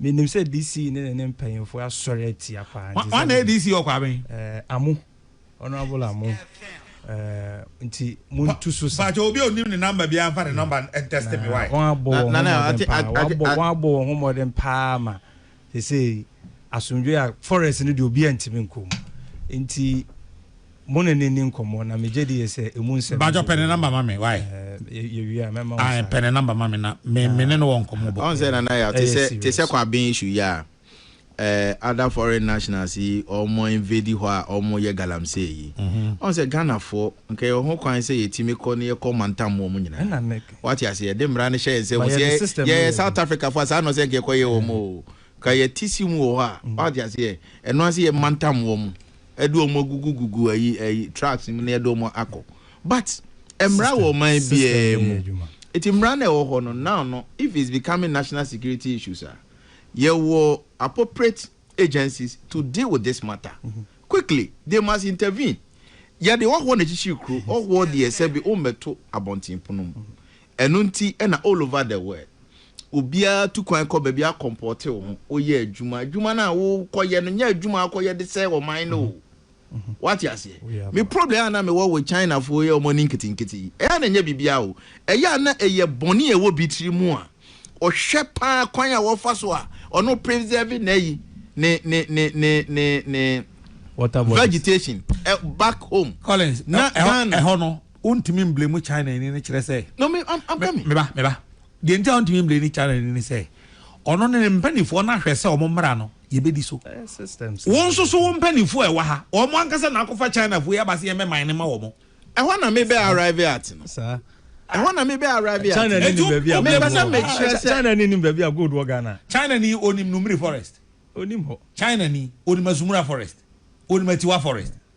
Menim sɛ DC ne ne ne mpanyinfoɔ asɔre atia paa nti sɛdeɛ. Wan na DC wɔ kwa bɛn? Eh, Amu, Honourable Amu, eh, nti montu so sa. Mpakyɛ obi a onim ne number biara nfa ne number ntɛste me wai. Na wɔn abɔ wɔn ho mmɔden paa, wɔn abɔ wɔn abɔ wɔn ho mmɔden paa ma sesei asomdwoe a forest no deɛ obiara ntumi nkɔ mu nti. Mo ne no nni nkɔmmɔ na megye di yɛ sɛ emu nsɛm no. Bajɔ pɛ ne number ma me wai. Ɛɛ yɛ wie a mɛma wo saa. Ae pɛ ne number ma me na me me ne no wɔ nkɔmmɔ bɔ. Ɔn sɛ nana ya te sɛ te sɛ kwaben issue yi a ɛɛ other foreign nationals yi ɔmo invade hɔ a ɔmo yɛ galamsey yi ɔn sɛ Ghana foɔ nka yɛ wɔ ho kwan sɛ yɛ tumi kɔ ne yɛ kɔ mantam mu ɔmo nyinaa wate ase yɛ de mmara no hyɛ yɛn nsam sɛ yɛ yɛ South Africa foɔ a saa na ɔsɛ nka yɛ kɔ yɛ wɔn o nka yɛ ti si mu wɔ hɔ a wate ase yɛ ɛno ase yɛ mantam wɔn. ɛde wɔn agugu gugu ayi ayi trucks mu na yɛde wɔn akɔ but mmara wɔ ɔman biara mu eti mmara na ɛwɔ hɔ no now no if it's becoming national security issues a yɛwɔ appropriate agencies to deal with this matter mm -hmm. quickly they must intervene yɛde ɔhoɔ na kyikyiri kuro ɔhoɔ deɛ sɛbi ɔmmɛto abɔnten pono mu Ɛno nti na all over the world, obiara tu kwan kɔ baabi akɔmpɔte wo ho, woyɛ adwuma. Adwuma no a wokɔyɛ no, nyɛ adwuma a wokɔyɛ de sɛe ɔman no o. Woate aseɛ? Me problem a na mewɔ with Chinafoɔ yi a wɔne nketenkete yi, ɛyɛ a na ɛnyɛ biribiara o. Ɛyɛ a na ɛyɛ bɔne a ɛwɔ bi tiri mu a ɔhwɛ pa ara kwan a wɔfa so a ɔno preserve n'ayi, ne, ne, ne, ne, ne, ne Water bodies. vegetation ɛ, back home. Collins, Na ɛ- ɛhɔ Ghana. ɛhɔ no, Ontumi mblame Chinani no kyerɛ sɛ. No me am am coming. Me ba me ba deɛ nti a ontumi mblame Chinani no sɛ ɔno ne ne mpanifoɔ no ahwɛ sɛ wɔn mmra no yɛ bɛdi so. Wo nso so wo mpanifoɔ a ɛwɔ ha wɔn ankasa na akɔfa Chinafoɔ yi aba sɛ yɛn bɛ mine no ma wɔn. Ɛhɔ na me bɛ arrive at no. Saa. Ɛhɔ na me bɛ arrive at. China ni nim baabi a. Me bɛ sɛ me kyerɛ sɛ. China ni nim baabi a gold wɔ Ghana. China ni onim Numiri forest. Onim hɔ. China ni onim Asumura forest. Onim Atiwa forest.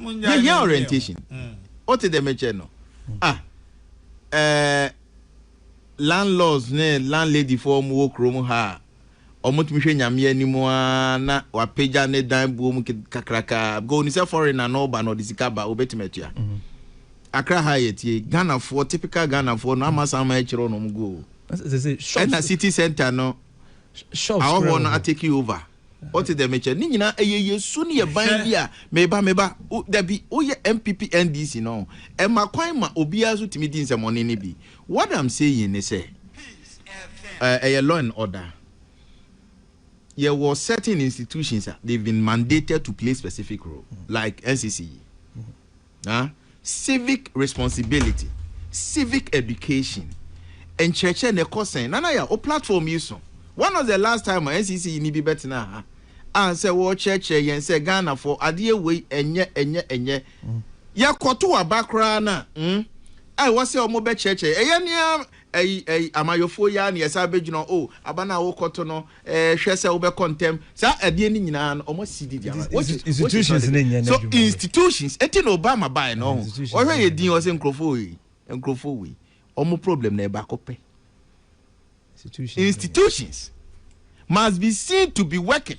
yɛhia orientation wote dɛ mekyɛ no ah eh, landlords ne landlady foɔ ɔmo wɔ kurom ha a ɔmo tumi hwɛ nyame anim a na wapagya ne dan buo mu kakraka because oni sɛ foreigner na ɔba na ɔde sika ba obetumi atua mhm. akra ha yɛ tie ghanafoɔ typical ghanafoɔ no ama san ma akyerɛ ɔno ɔmo go ɛna city center no awɔfoɔ no atake over Ɔte dɛ me kyɛ. Ne nyinaa ɛyɛ yɛ su ne yɛ ban bi a meba meba wo dabi wo yɛ NPP NDC no ɛma kwan ma obiara nso tumi di nsɛmɔne no bi what am saying ne sɛ ɛyɛ law and order yɛ wɔ certain institutions a they've been mandated to play specific role like NCC yi. Na civic responsibility, civic education nkyerɛkyerɛ no ɛkɔ sɛn? Nana Yaw, wo platform yi so, when was the last time a NCC ni bi bɛtenaa ha a sɛ wɔrekyerɛkyerɛ yɛn sɛ Ghanafoɔ adeɛ wei ɛnyɛ, ɛnyɛ, ɛnyɛ. Yɛkɔto aba koraa no a, hmm, a ɛwɔ sɛ wɔbɛkyerɛkyerɛ yɛn. Ɛyɛ ne ara ayi, ayi, amayɔfoɔ yi ara na yɛsan bɛgyina hɔ, oh, aba no a worekɔto no, Eh, hwɛ sɛ wobɛkɔ ntɛm. Saa adeɛ no nyinaa no, wɔasi di di ama. Nti, nti, institutions no nyɛ So n'adwuma no. institutions, eti na Obama bae no, Eh, ɔho. institutions Ɔhwɛ no yɛ nyɛ din, ɔsɛ nkurɔfoɔ wei, nkurɔfoɔ wei. Wɔn problem no yɛ baako pɛ. Institutions no nyɛ. Institutions must be seen to be working.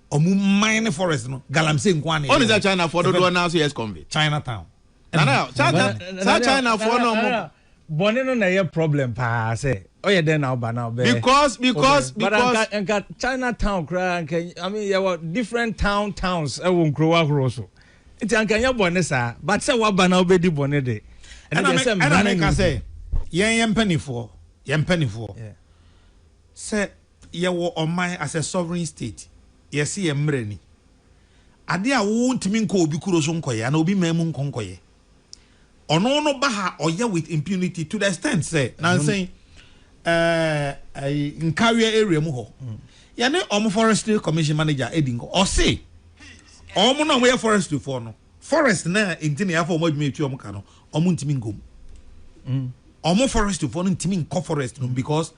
ɔmo man ne forest no galamsey nko ana ɔne sɛ china foɔ dodoɔ naa so yɛ convict china town nana saa china foɔ no ɔmo bɔne no na ɛyɛ problem paa sɛ ɔyɛ dɛn na ɔba na ɔbɛ because because because nka nka china town koraa nka i mean yɛwɔ different town towns ɛwɔ nkurow ahorow so nti anka nyɛ bɔne saa but sɛ waba na ɔbɛdi bɔne de ɛna deɛ sɛ mmara no ɛna meka sɛ yɛn yɛn mpanimfoɔ yɛn mpanimfoɔ sɛ Yɛwɔ ɔman as a sovereign state, yɛse yɛn mmara ni. Ade a wo ntumi nkɔ obi kuro so nkɔyɛ anaa obi man mu nkɔ nkɔyɛ. Ɔno no ba ha ɔyɛ with impunity to the extent sɛ nansa yi ɛɛ Nkareɛ area mu hɔ yɛne ɔmo forestry commission manager edi nkɔ ɔse ɔmo na ɔmo yɛ forestry foɔ no forest na nti na yɛafa ɔmo adwuma etua ɔmo ka no ɔmo ntumi nkɔ mu. Ɔmo forestry foɔ no ntumi nkɔ forest no mu because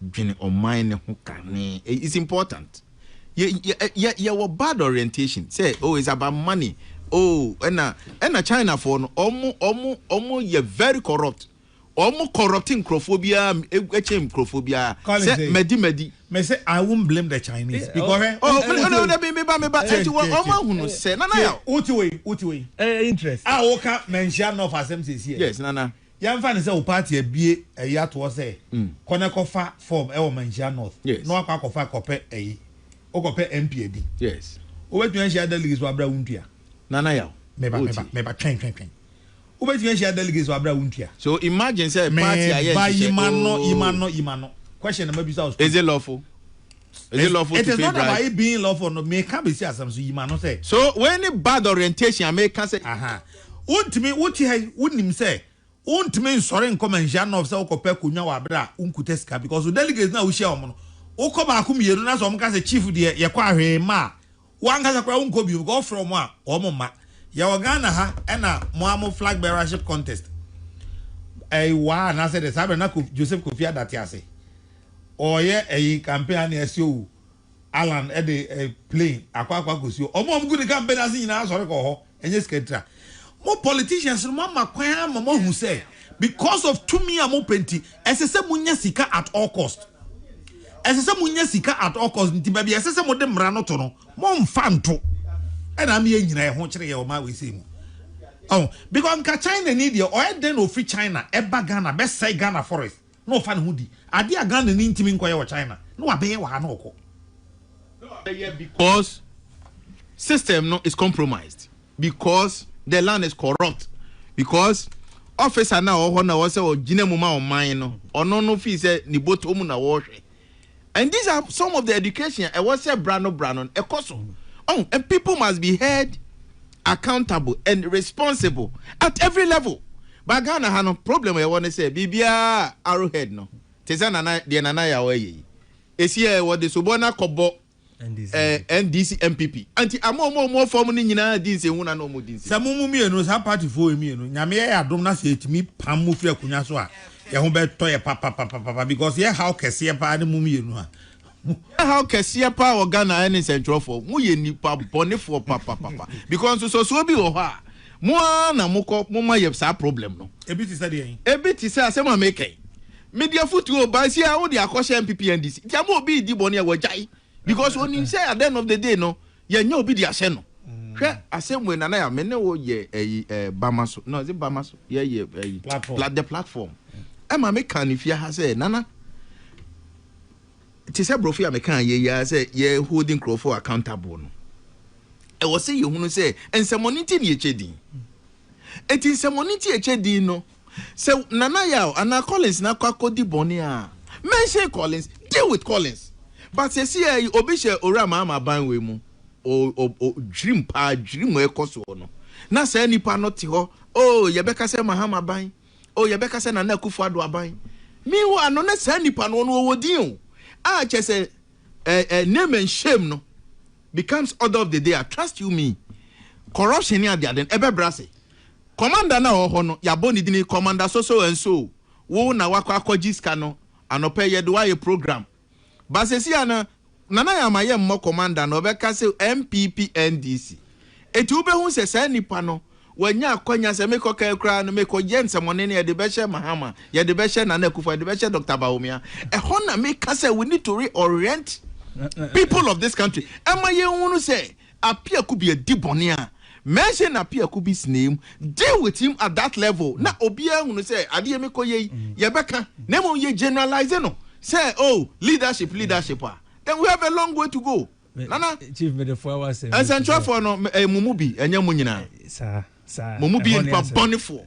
dwene ɔman no ho kane. It's important. Yɛ, yɛ, yɛwɔ bad orientation sɛ, oh, it's about money. Oh, ɛna, ɛna Chinafoɔ no, ɔmo, ɔmo, ɔmo yɛ very corrupt. Ɔmo corrupt nkorɔfoɔ biara ɛkyɛn nkorɔfoɔ biara. Call it sɛ, madi, madi. Me sɛ, I won't blame the Chinese because hwɛ. Oh, oh, oh, oh, oh, meba, meba. Ɛnti wɔ, ɔmo ahunu sɛ, Nana Yaw. Wote wei, wote wei. Eh, interest. A woka, manhyia North asɛm sɛsi ɛ. Yes, Nana. Yɛmfa no sɛ wo paati abue ayi ato hɔ sɛ kɔ na kɔfa fɔm wɔ Manhyia North na wakɔ akɔfa kɔpɛ ayi, wokɔpɛ MP adi. Wobɛtumi ahyia delegates wɔ aberɛ a wontua? Nana Yaw, Meba, meba, meba, twɛn, twɛn, twɛn. Wobɛtumi ahyia delegates wɔ aberɛ a wontua? So imagine sɛ paati ayɛ nhyehyɛ, ooh. Meba, yima no, yima no, yima no. Question na mabisa wo straight. Ezelɔfo. Is it lawful to pay bribe? It is not about it being lawful. No, me ka besi asem so yima no say. So when ni bad orientation me ka say. Aha. Wontumi wo te ha wonim sɛ wontumi nsɔre nkɔ manhyia nɔf sɛ wokɔpɛ konwa wɔ abere a wonkuta sika because wo delegates no a wohyia wɔn no wokɔ baako mmienu na sɛ wɔn ka sɛ chief deɛ yɛkɔ ahwee mma a Wo ankasa koraa wonkɔ bio because wofrɛ wɔn a wɔn mma. Yɛwɔ Ghana ha ɛna mo ara mo flag bearership contest ɛyi waa anaasɛ dɛ saa berɛ na Kof Joseph Kofi Ada te ase ɔreyɛ ɛyi campaign a na yɛasi owu Alan ɛde ɛyi plane akɔ akɔ akɔsi hɔ. Wɔn a wɔgu ne campaign ase nyinaa sɔre kɔɔ hɔ. ɛnyɛ sika ntira mo politicians no mo ama kwan ama mo ahu sɛ because of tumi a mo pɛ nti ɛsɛ sɛ mo nya sika at all cost ɛsɛ sɛ mo nya sika at all cost nti baabi ɛsɛ sɛ mo de mmara no to no mo nfa nto ɛna ama yɛ nyina ɛho kyerɛ yɛ ɔma wei sɛ mu ɔn because nka China ni deɛ ɔyɛ dɛn na ofiri China ɛba Ghana bɛsɛe Ghana forest na ɔfa ne ho di adeɛ a Ghanani ntumi nkɔyɛ wɔ China na wabɛyɛ wɔ ha na ɔkɔ. Na wabɛyɛ because system no is compromised, because the land is corrupt, because officer no a ɔwɔ hɔ na ɔwɔ sɛ ɔgyina mu ma ɔman no, ɔno no fii sɛ ne bɔtɔ mu na wɔrehwɛ And these are some of the education a ɛwɔ sɛ bra no bra no ɛkɔ so. Ɔn, and people must be held accountable and responsible at every level. But Ghana ha no, problem a yɛwɔ ne sɛ biribiara arrowhead no te sɛ Nana, deɛ Nana Yaw ayɛ yi. Ɛsi a wɔde sobɔ no akɔbɔ ɛɛ NDC NPP anti ama ɔmo a ɔmo wɔ fɔm no nyinaa di nsenhu na na ɔmo di nsenhu. Sɛ mo mo mienu saa party foɔ yi mienu nyame yɛ yɛ adom na sɛ yɛtumi pam mo firi akonwa so a yɛ ho bɛ tɔ yɛ papapapapa because yɛ haw kɛseɛ paa ne mo mienu a mo. Yɛ haw kɛseɛ paa wɔ Ghana ɛne nsɛntwerɛfoɔ mo yɛ nipa bɔnefoɔ papapapa because nsɔsoɔ bi wɔ hɔ a mo ara na mo kɔ mo ma yɛ saa problem no. Ebi te sɛ deɛn? Ebi te sɛ asɛm a meka yi Mede afotu o but sia wode akɔhyɛ NPPNDC nti ama obi redi bɔne a wagyae because onim sɛ at the end of the day no yɛnyɛ obi de ahyɛ no. Hwɛ asɛm wei Nana Yaw me ne wo yɛ ɛyi ɛɛ Bama so no is it Bama so yɛ yɛ ɛyi pla the platform ɛma me kan ne fie ha sɛ Nana te sɛ borɔfo a me kan yɛ yɛ sɛ yɛ holding nkurɔfoɔ accountable no ɛwɔ sɛ yɛhunu sɛ nsɛmɔne nti ne yɛkyɛ din eti nsɛmɔne nti yɛkyɛ din no Sɛ Nana Yaw anaa Collins na akɔ akɔdi bɔne a, mention Collins, deal with Collins. But seesei ara yi, obi hyɛ Owura Mahama ban wei mu, o, o, o, dwirim paa, dwirim a ɛrekɔ soɔ no. Na saa nipa no te hɔ, oh, yɛbɛka sɛ Mahama ban, oh, yɛbɛka sɛ Nana Akufo-Addo aban. Meanwhile no, na saa nipa no, ɔno ɔwɔ din o. A, kyerɛ sɛ, eh, eh, name and shame no becomes order of the day a, trust you me, corruption ne adeade no, ɛbɛbrɛ ase. Kɔmanda no a ɔwɔ hɔ no yɛabɔ ne dini Kɔmanda Soso Anso wo na wakɔ akɔgye sika no anɔpa yi yɛde wo ayɛ program but sɛsi a no Nana yɛama yɛ mmɔ Kɔmanda no ɔbɛka sɛ NPP NDC ɛti wo bɛhu sɛ saa nipa no wanya akwanya sɛ mekɔ kan koraa no mekɔ yɛ nsɛmɔne no yɛde bɛhyɛ Mahama yɛde bɛhyɛ Nana Akufo yɛde bɛhyɛ Doctor Bawumia ɛhɔ na meka sɛ we need to reorient people of this country ɛma yɛnhunu sɛ appear could be a di bɔne a mention na appear could be snaim deal with him at that level na obiara hunu sɛ adeɛ mi kɔ yɛ yi yɛbɛka na mmom yɛ generalize no sɛ oh leadership leadership a then we have a long way to go nana chief medefoa wasɛm nsɛnkyerɛfoɔ no ɛyɛ mo mu bi ɛnyɛ mo nyinaa mo mu bi yɛ nipa bɔnefoɔ.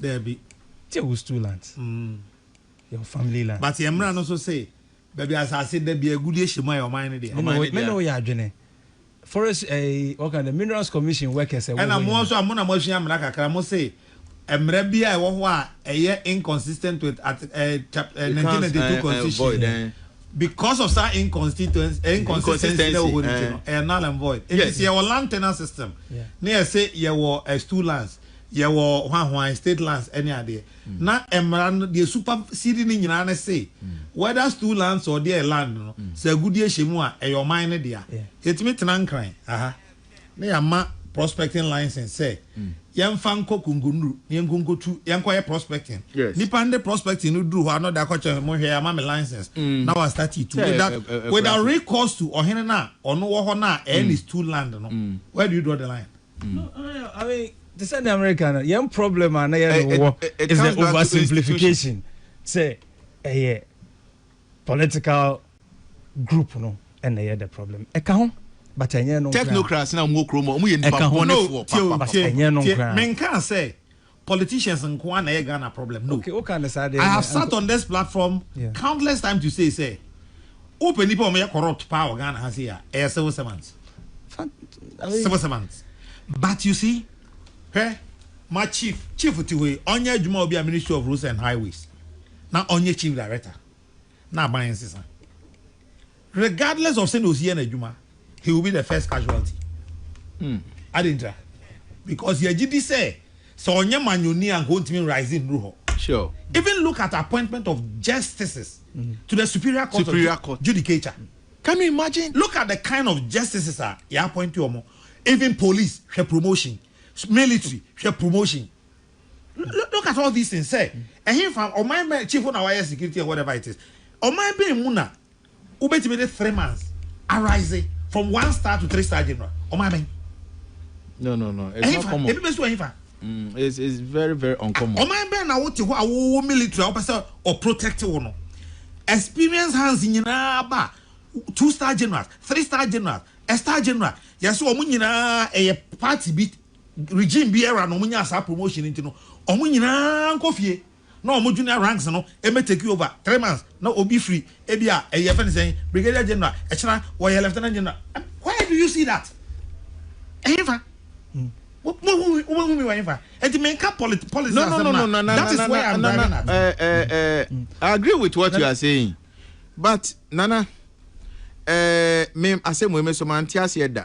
Daabi. Te wo stool ant. Mm. Yɛ wo family land. But yɛ mmra no so se baabi asase da bi agudie hyɛ mu a yɛ ɔman no deɛ. Ɔman no deɛ. Me ne wo yɛ adwene. Forest ɛɛ eh, wɔka dɛ minerals commission workers ɛwɔ hɔ nyinaa. Ɛna mo nso a mo na mo asua mmra kakra mo se mmra bi a ɛwɔ hɔ a ɛyɛ inconsistent with at eh, chap, eh, 1992 constitution. Eh, eh, because of saa inconsistency eh, inconsistency na wɔwɔ nti no ɛyɛ null and void eti sɛ yɛwɔ land tenure system na yɛsɛ yɛwɔ eh, stool lands Yɛwɔ hwanhwan, state lands ɛne adeɛ. Na mmara no, deɛ su pa si di no nyinaa ne se, whether stu lands or deɛ ɛyɛ land no, sɛ agudie hyɛ mu a, ɛyɛ ɔman no dea. Yɛtumi tena Nkran aha na yɛama prospecting license sɛ yɛmfa nkɔ Konkonru na yɛnkɔ nkɔtu, yɛnkɔ yɛ prospecting. Nipa no de prospecting no duru hɔ a na ɔde akɔkyerɛ sɛ, monhwɛ, yɛama me license. Na wa start tu without, without recourse to ɔhene no a ɔno wɔ hɔ no a ɛyɛ ne stu land no. Where do you draw the line? Te sɛ nea mereka no, yɛn problem a na yɛne wo wɔ is the oversimplification sɛ ɛyɛ political group no na ɛyɛ the problem. Ɛka ho but ɛnyɛ ɛno nkoraa. Technocrats na wɔn wɔ kurom hɔ, wɔn yɛ nnipa bɔnefoɔ papa. Ɛnyɛ ɛno nkoraa. Menkaa sɛ politicians nkoaa na ɛyɛ Ghana problem no. Okay, wo ka no saa deɛ. I have sat on this platform countless times to say sɛ, wo pɛ nnipa a wɔn yɛ corrupt paa wɔ Ghana ha sei a, ɛyɛ civil servants. Civil servants. But you see, hwɛ, ma chief, chief te hɔ yi, ɔnyɛ adwuma wɔ bi a Ministry of Roads and Highways, na ɔnyɛ chief director. na aban nsesa. Regardless of sɛnea osi yɛ n'adwuma, he will be the first casualty. Mm. Adentira. Because yɛgye di sɛ sɛ ɔnyɛ manyoni a nka ontumi nrise nnuru hɔ. Sure. Even look at appointment of justices mm. to the superior court superior of court. judicature. Mm. Can you imagine? Look at the kind of justices a yɛ appoint wɔn. Even police hwɛ promotion, military hwɛ promotion. Look at all these things sɛ ɛhenfa ɔman bɛn chief na wayɛ security and whatever it is ɔman bɛn mu na wobɛtumi de three months arise from one star to three star general ɔman bɛn. no no no it's not common ebi bɛ so ɛhenfa. Mm, it's, it's very very uncommon. ɔman bɛn na wote hɔ a wowɔ military a wopɛ sɛ ɔprotect wo no experience hands nyinaa ba two star generals three star generals a star general yɛsɛ wɔn nyinaa ɛyɛ party bi regime biara na wɔnyaa saa promotion no nti no, wɔn nyinaa nkɔ fie na wɔn junior ranks no mmɛ take over three months na obi firi ebi a ɛyɛ fɛn sɛn brigadier general ɛkyena wɔyɛ lieutenant general and where do you see that ɛhefa wobɛhu mi wɔ ɛhefa ɛti menka polit policy no, no, no, no, no, that is where I'm driving at. Uh, uh, uh, I agree with what you are saying but nana uh, me asɛm wei me so mante aseɛ da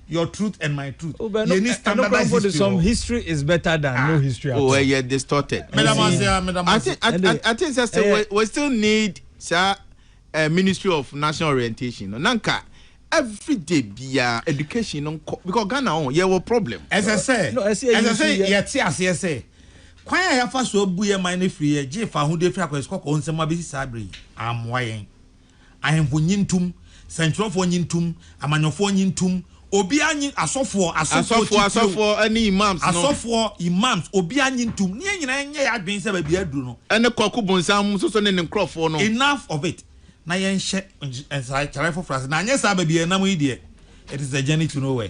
your truth and my truth yɛ ni standardized history wɔ hɔ. history is better than ah. no history at oh, all. o ɛ yɛ distorted. mɛdàmú ase ya mɛdàmú ase. i think i think sɛ we we still need sa uh, eh, ministry of national orientation no nanka every day bia education no nkɔ because ghana ɔn yɛ wɔ problem. ɛsɛ sɛ ɛsɛ sɛ yɛ ti aseɛ sɛ kwan a yɛafa so abu yɛ man no firi yɛ gye fa ho de firi akɔyɛ sukɔkɔɔ nsɛm abɛsi saa bere yi amoa yɛn. Ahemfo nye ntum, sɛnkyerɛwfoɔ nye ntum, amanyɔfoɔ nye ntum, obiara nye, asɔfoɔ, asɔfoɔ Asɔfoɔ, titiriw, asɔfoɔ ne imams no. asɔfoɔ, imams, obiara nye ntum, ne yɛn nyinaa nyɛ yɛn adwene sɛ baabi a aduru no, Ɛne Kwaku Bonsam nso so ne ne nkurɔfoɔ no. enough of it, na yɛnhyɛ nsakyeraɛ foforɔ ase, na anyɛ saa baabi a yɛnam yi deɛ, it is a journey to nowhere.